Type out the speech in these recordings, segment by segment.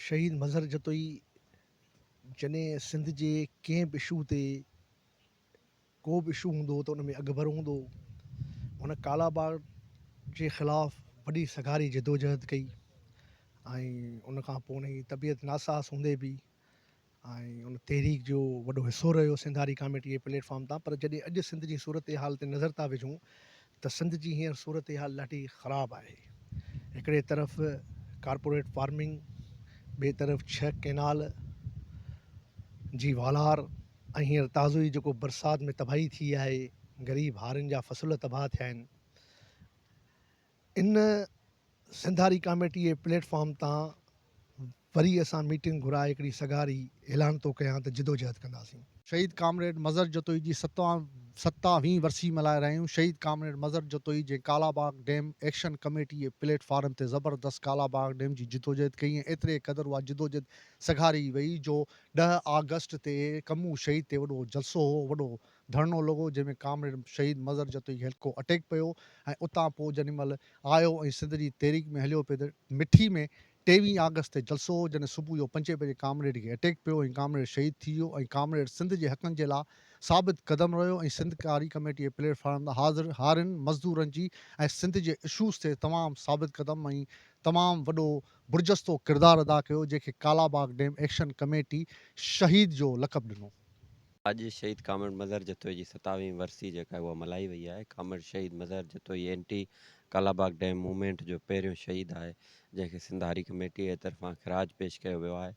شهيد مظهر جتوئي جڏهن سنڌ جي ڪنهن به اشو تي ڪو به اشو هوندو هو ته ان ۾ اڳڀر هوندو هو هن ڪالاباغ جي خلاف وڏي سگهاري جدوجهد ڪئي ۽ ان کان پوء ان جي طبيعت ناساز هوندي به ۽ ان تحريڪ جو وڏو حصو رهيو سنڌ هاري ڪاميٽي جي پليٽ فارم تان پر جڏهن اڄ سنڌ جي صورتحال تي نظر ٿا وجهون ته سنڌ جي هينئر صورتحال ڏاڍي خراب آهي هڪڙي طرف ڪارپوريٽ فارمنگ ٻئي طرف ڇهه ڪينال جي والار ۽ هينئر تازو ئي جيڪو برسات ۾ تباهي ٿي آهي غريب هارين جا فصل تباهه ٿيا آهن ان سنڌاري ڪاميٽيء پليٽ فارم تان وري اسان ميٽنگ گهرائي هڪڙي سگهاري اعلان ٿو ڪيان ته جدوجهد ڪنداسين. شهيد ڪامريڊ مظهر جتوئي جي ستاويهين ورسي ملهائي رهيا آهيون، شهيد ڪامريڊ مظهر جتوئي جنهن ڪالاباغ ڊيم ايڪشن ڪميٽيء پليٽ فارم تي زبردست ڪالاباغ ڊيم جي جدوجهد ڪئي ۽ ايتري قدر اها جدوجهد سگهاري وئي جو ڏهه آگسٽ تي ڪمون شهيد تي وڏو جلسو هو، وڏو ڌرڻو لڳو جنهن ۾ ڪامريڊ شهيد مظهر جتوئي کي هلڪو اٽيڪ پيو ۽ اتان پوء جنهن مهل آيو ۽ سنڌ جي تحريڪ ۾ هليو پيو ته مٺي ۾ ٽيويهين آگسٽ تي جلسو هو جڏهن صبح جو پنجين بجي ڪامريڊ کي اٽيڪ پيو ۽ ڪامريڊ شهيد ٿي ويو ۽ ڪامريڊ سنڌ جي حقن جي لاء ثابت قدم رهيو ۽ سنڌ ڪاري ڪميٽي جي پليٽ فارم تان حاضر هارين مزدورن جي ۽ سنڌ جي اشوز تي تمام ثابت قدم ۽ تمام وڏو برجستو ڪردار ادا ڪيو جنهن کي ڪالاباغ ڊيم ايڪشن ڪميٽي شهيد جو لقب ڏنو. اڄ شهيد ڪامريڊ مظهر جتوئي جي ستاويهين ورسي جيڪا اها ملهائي وئي آهي. ڪامريڊ شهيد Mazhar Jatoi anti Kalabagh dam movement جو پهريون شهيد آهي جنهن کي سنڌ هاري ڪميٽي اي طرفان خراج پيش ڪيو ويو آهي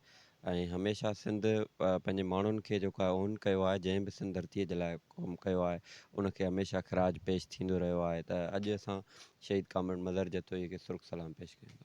۽ هميشه سنڌ پنهنجي ماڻهن کي جيڪو آهي اون ڪيو آهي جنهن به سنڌ ڌرتي جي لاء ڪم ڪيو آهي ان کي هميشه خراج پيش ٿيندو رهيو آهي ته اڄ اسان شهيد ڪامريڊ مظهر جتوئي کي سرخ سلام پيش ڪيون ٿا.